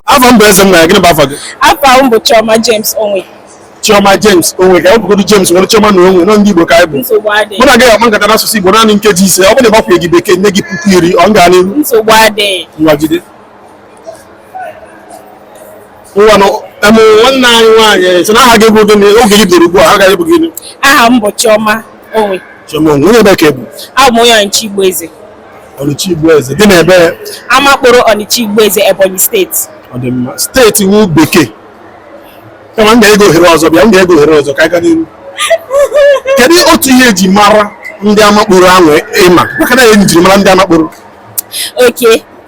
afa m bụ eze nwa ya gịnị bụ afa gị afa m bụ Chioma James Onwe Chioma James Onwe ka e wepụgodu James were Chioma na Onwe nọ ndị Igbo ka anyị bụ mụ na gị ga-akpa nkata n'asụsụ Igbo naanị nkeji ise ọ bụrụ na ị gbakwunyeghị bekee nye gị puku iri ọ ga n'ihu nsogbu adịghị ngwa jide ngwanụ em nwanne anyị nwaanyị sị na aha gị bụ gịnị oge gị bidoro ugbu a aha gị bụ gịnị aha m bụ Chioma Onwe Chioma Onwe onye ebee ka ị bụ abụ m onye Ọnịcha Igboeze Ọnịcha Igboeze dị n'ebee Amakporo Ọnịcha Igboeze Ebonyi steeti ọ dị mma steeti wụ bekee kama m ga-enye gị ohere ọzọ bịa m ga-enye gị ohere ọzọ ka a gaa n'ihu kedu otu ihe eji mara ndị Amakporo ahụ ịma maka na enyi njirimara ndị Amakporo okay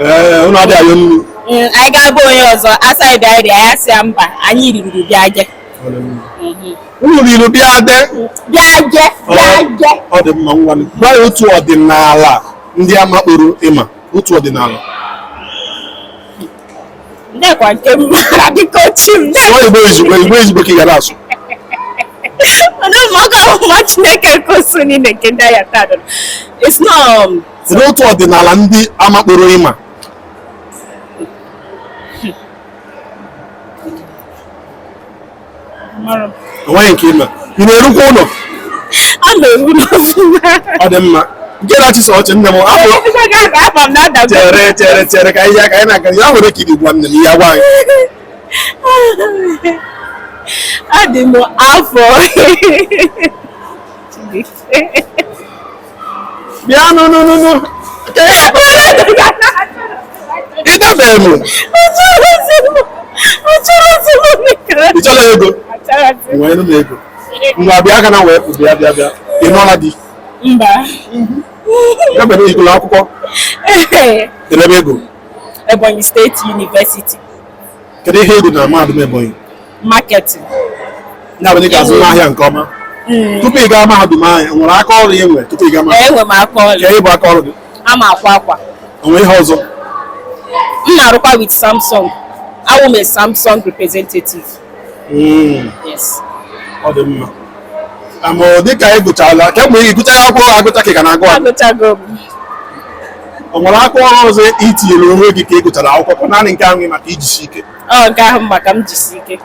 ee unu adịghị ayọ nri Mm, anyị gaa be onye ọzọ a sị anyị bịa rie anyị sị ya mba anyị riri bịa je unu riri bịa de bịa je bịa je ọ dị mma ngwa gwa ya otu ọdịnala ndị Amakporo ịma otu ọdịnala ndekwa nke m mara biko chi m sụọ igbo ezigbo igbo ezigbo ka ị ga na-asụ Ọdụmọkọ ọmụma Chineke koso niile nke ndị ahịa taa dọrọ. It's not um, Kedu otu ọdịnala ndị Amakporo ịma. O nweghị nke ịma. Ị na-erukwa ụlọ? Ana m eru ụlọ ọfụma. Ọ dị mma. Nke na-achịsa ọchị nne m afọ. Ebe ga aba aba m na-ada m. Chere chere chere ka ihe aka anyị na-aga ya nwere ka iri gwa nne m ihe agwa anyị. Adị m afọ. bịa no no no no ị dabeghị m ị chọrọ ego nye nụ m ego ngwa bịa aka na wee pụ bịa bịa bịa ị nụọla di mba ebe na ị gụlụ akwụkwọ ole ebe ị gụrụ Ebonyi State University kedu ihe ị gụrụ na mahadum Ebonyi marketing ya bụ na ị ga-azụnwu ahịa nke ọma tupu ị gaa mahadum ahụ o nwere aka ọrụ ị nwere tupu ị gaa mahadum enwe m aka ọrụ gịnị bụ aka ọrụ gị ana m akwa akwa o nwe ihe ọzọ m na-arụkwa with samsung awụ m a samsung representative Mm, yes ọ dị mma ama dịka ị gụchala kemgbe ị gụchara akwụkwọ gị agụcha ka ị ka na-agụ agụ agụchago m o nwere aka ọrụ ọzọ i tinyere onwe gị ka ị gụchara akwụkwọ naanị nke ahụ gị maka ijisi ike Ọ nke ahụ maka m jisi ike.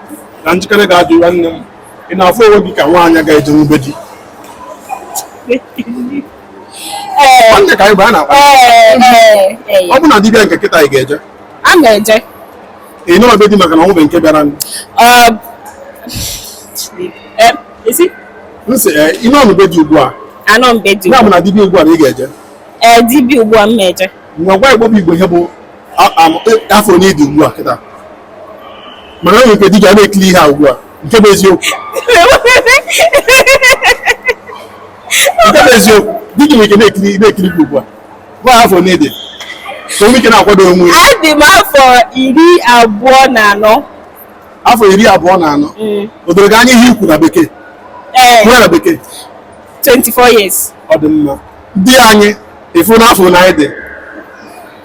Na njikere ga-adị nwanne m. Ị na-afụ onwe gị ka nwaanyị ga-eje na be di. Nwanne ka anyị bụ a na-akpa. Ọ bụ na di bịa nke kịta ị ga-eje? A na-eje. Ị nọrọ be di maka na o nwebe nke bịara. Ị sị? M sị, ị nọ na be di ugbu a. Anọ m be di. Ya bụ na di bịa ugbu a na ị ga-eje. Ee, di bịa ugbu a m na-eje. Ngwa gwa Igbo bụ Igbo ihe bụ afọ one ị dị ugbu a kịta maka na o nwere ike di gị ọ na-ekiri ihe a ugbu a nke bụ eziokwu nke bụ eziokwu di gị nwere ike na-ekiri na-ekiri gị ugbu a gwa afọ one ị dị ka o nwee ike na-akwado onwe ya adị m afọ iri abụọ na anọ afọ iri abụọ na anọ o doro gị anya ihe ikwu na bekee ee kwuo na bekee 24 years ọ dị mma di anyị efu n'afọ na anyị dị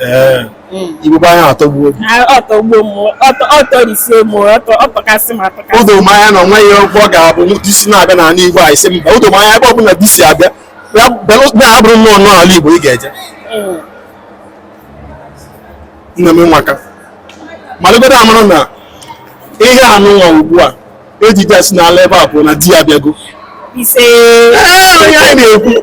ee Mm. igbo bụ anyị atọgbuo gị Ah, ọ tọgbuo m ọtọ- ọ tọrisie m ọtọ- ọ tọkasị m atọkasị o do m anya na o nweghị oge ọ ga-abụ di si na-abịa n'ala igbo a ị sị mba o do m anya ebe ọ bụla di si abịa ya belụ- ya abụrụ nnọọ n'ala igbo ị ga-eje Mm. nna m nwaka malụgodo amara na ihe anụ nwa ugbu a ejije a si n'ala ebe a pụrụ na di ya abịago ise Ee, onye anyị na-ekwu